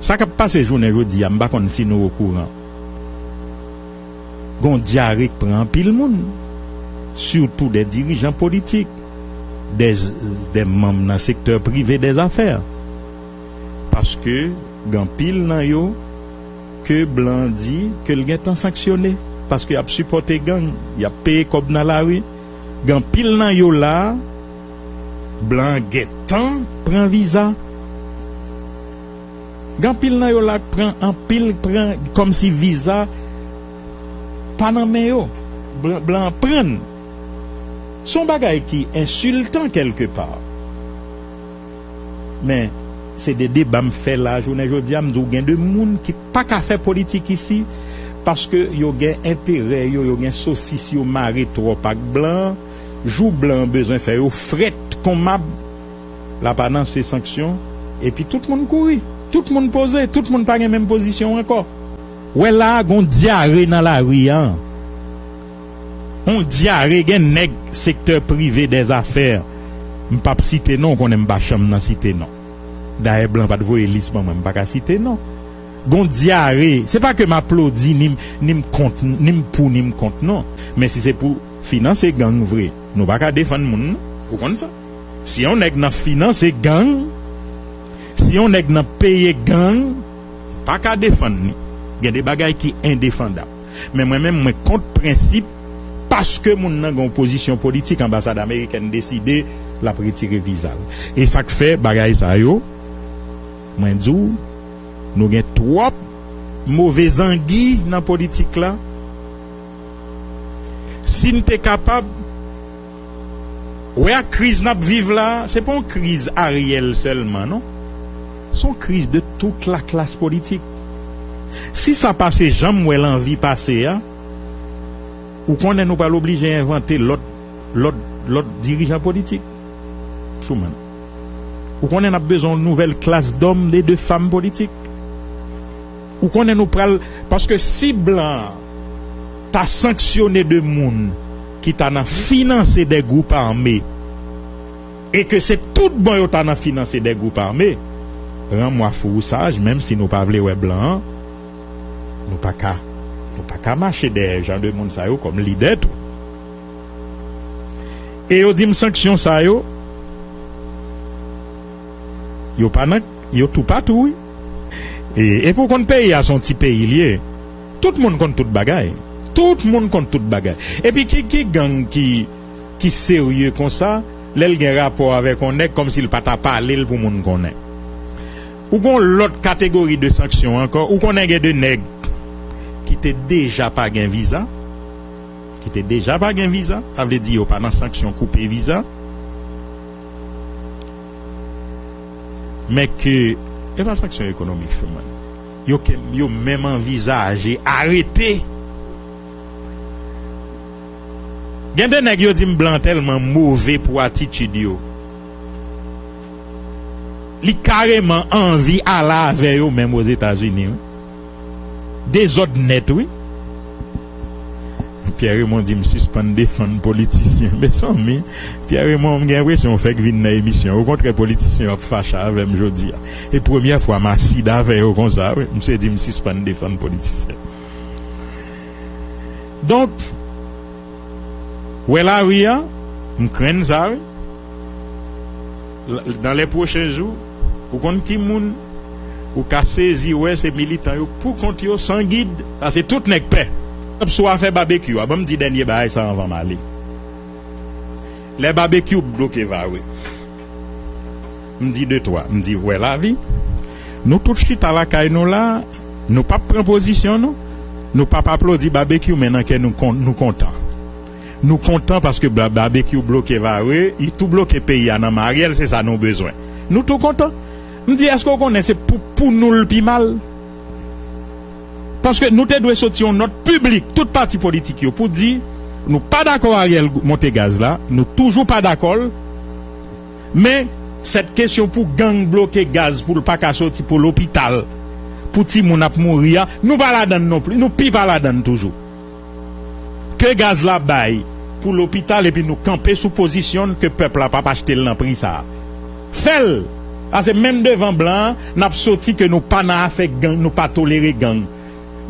Sa kap pase jounen jodi a m pa konn si nou okouran gon dyare k pran anpil moun sitou dè dirijan politik dè dè manm nan sektè prive dè zafè paske gen anpil nan yo ke blan an di ke l gentan sanksyone paske yap sipòte gang yap peye kòb nan lari gen anpil nan yo la blan an gentan pran viza. Gen anpil nan yo la k pran anpil pran kòmsi viza pa nan men yo blan blan an pran n se yon bagay ki ensiltan kèlke pa men se de deba m fè la jounen jodi a m di w gen de moun ki pa ka fè politik isi paske yo gen enterè yo yo gen sosis yo mare twòp ak blan jou blan bezwen fè yo frèt kon mab. l ap ananse sanksyon epi tout moun kouri, tout moun poze, tout moun pa gen menm pozisyon ankò. Wè la a gon dyare nan lari a an. On dyare gen nèg sektè prive dè zafè, m pap site non, ou konnen m pa chanm nan site non. Dayè blan pat voye lis ban mwen, m pa ka site non. Gon dyare, se pa ke m aplodi ni m ni m kont, ni m pou ni m kont non. Men si se pou finanse gang vre, nou pa ka defann moun non, ou konn sa. Si yon nèg nan finanse gang, si yon nèg nan peye gang, m pa ka defann li. Gen de bagay ki endefandab. Men mwen menm mwen kont prensip paske moun nan gen yon pozisyon politik anbasad amerikèn deside l ap retire viza l. E sa k fè bagay sa yo mwen di w nou gen twòp move zangi nan politik la. Si n te kapab. Wè ak kriz nap viv la, se pa yon kriz Ariel sèlman non. Se yon kriz de tout la klas politik. Si sa pase janm wèl anvi pase a, ou konnen nou pral oblije envante lòt lòt lòt dirijan politik. Souman. Ou konnen nap bezwen yon nouvèl klas dòm e de fam politik. Ou konnen nou pral paske si blan an ta sanksyone de moun ki ta nan finanse de gwoup ame e ke se tout bon yo ta nan finanse de gwoup ame ran mwa fou ou saj menm si nou pa vle wè blan an nou pa ka nou pa ka mache dèyè jan de moun sa yo kòm lidè tou e yo di m sanksyon sa yo yo pa nan yo toupatou wi. Epi w konn peyi a se yon ti peyi li ye tout moun konn tout bagay tout moun konn tout bagay epi ki ki gang ki ki serye konsa lè l gen rapò avèk yon nèg kòmsi l pa ta pale l pou moun konnen ou gon lòt kategori de sanksyon ankò ou konnen gen de nèg ki te deja pa gen viza ki te deja pa gen viza sa vle di yo pa nan sanksyon koupe viza. Men ke e pa sanksyon ekonomik sèlman yo ke yo menm anvizaje arete. Gen de nèg yo di m blan tèlman move pou atitid yo, li kareman anvi ale avè yo menm Ozetazini wi. Dezòd nèt wi. Pierre Raymond di m sispann defann politisyen. Mezanmi Pierre Raymond m gen enpresyon ou fèk vin nan emisyon an. Okontrè politisyen yo ap fache avè m jodi a. E premyè fwa m asid avè yo konsa wi. Misye di m sispann defann politisyen. Donk. wè lari an m krenn sa wi nan lè pwochen jou ou konn ki moun ou ka sezi wè se militan yo pou kont yo san gid pase tout nèg pè ap sou afè babekyou a ban m di dènye bagay sa anvan m ale lè babekyou bloke va we. M di de twa, m di wè lavi. Nou tout chita lakay nou la, nou pap pran pozisyon nou, nou pap aplodi Babekyou men nan kè nou nou kontan. Nou kontan paske Babekyou bloke Varreux, li tou bloke peyi a nan men Ariel se sa nou bezwen. Nou tou kontan. M di èske ou konnen se pou pou nou l pi mal? Paske nou te dwe soti yon nòt piblik tout pati politik yo pou di nou pa dakò Ariel monte gaz la, nou toujou pa dakò l, Men, sèt kesyon pou gang bloke gaz pou l pa ka soti, pou lopital, pou timoun ap mouri a, nou pa ladan l nonplis, nou pi pa ladan l toujou. Ke gaz la bay pou lopital epi nou kanpe sou pozisyon n ke pèp la p ap achte l nan pri sa a. Fè l! Pase menm devan blan an, n ap soti ke nou pa nan afè gang, nou pa tolere gang.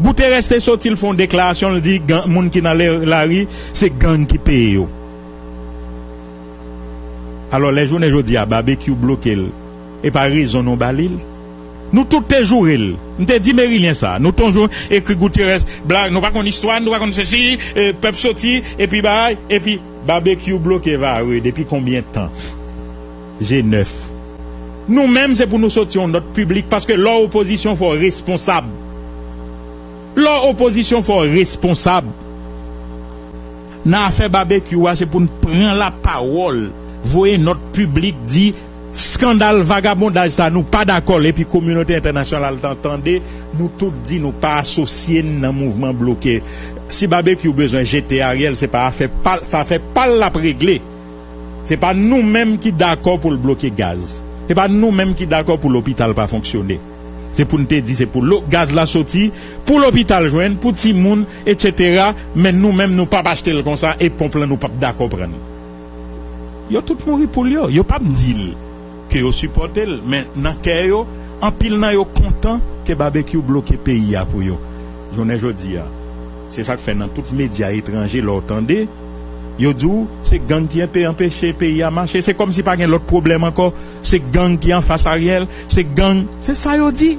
Guterres te soti l fè yon deklarasyon l di gang, moun ki nan lari se gang ki peye yo. Alò lè jounen jodi a Babekyou bloke l e pa rezon nou ba li l? Nou tout te joure l. M te di Merilien sa. Nou tonjou ekri Goutyerès blag nou pa konn istwa n nou pa konn sesi e pèp soti epi bagay epi Babekyou bloke Varreux depi konbyen tan? Je nèf. Nou menm se pou nou soti yon nòt piblik paske lè w opozisyon fò w responsab. Lè w opozisyon fò w responsab. Nan afè Babekyou a se pou n pran lapawòl, voye nòt piblik di skandal vagabondaj sa nou pa dakò l epi kominote entènasyonal lan tande nou tout di nou pa asosye n nan mouvman bloke. Si Babekyou bezwen jete Ariel se pa afè pa l, se afè pa l l ap regle. Se pa nou menm ki dakò pou l bloke gaz. Se pa nou menm ki dakò pou lopital pa fonksyone. Se pou n te di se pou lo gaz la soti, pou lopital jwenn, pou timoun, etc. Men nou menm nou pap achte l konsa e ponp lan nou pap dakò pran l. Yo tout mouri poul yo. Yo pap di l ke yo sipòte l men nan kè yo anpil nan yo kontan ke Babekyou bloke peyi a pou yo jounen jodi a. Se sak fè nan tout medya etranje lè w tande yo di w se gang ki enpe anpeche peyi a mache se kòmsi pa gen lòt pwoblèm ankò. Se gang ki anfas Ariel, se gang, se sa yo di.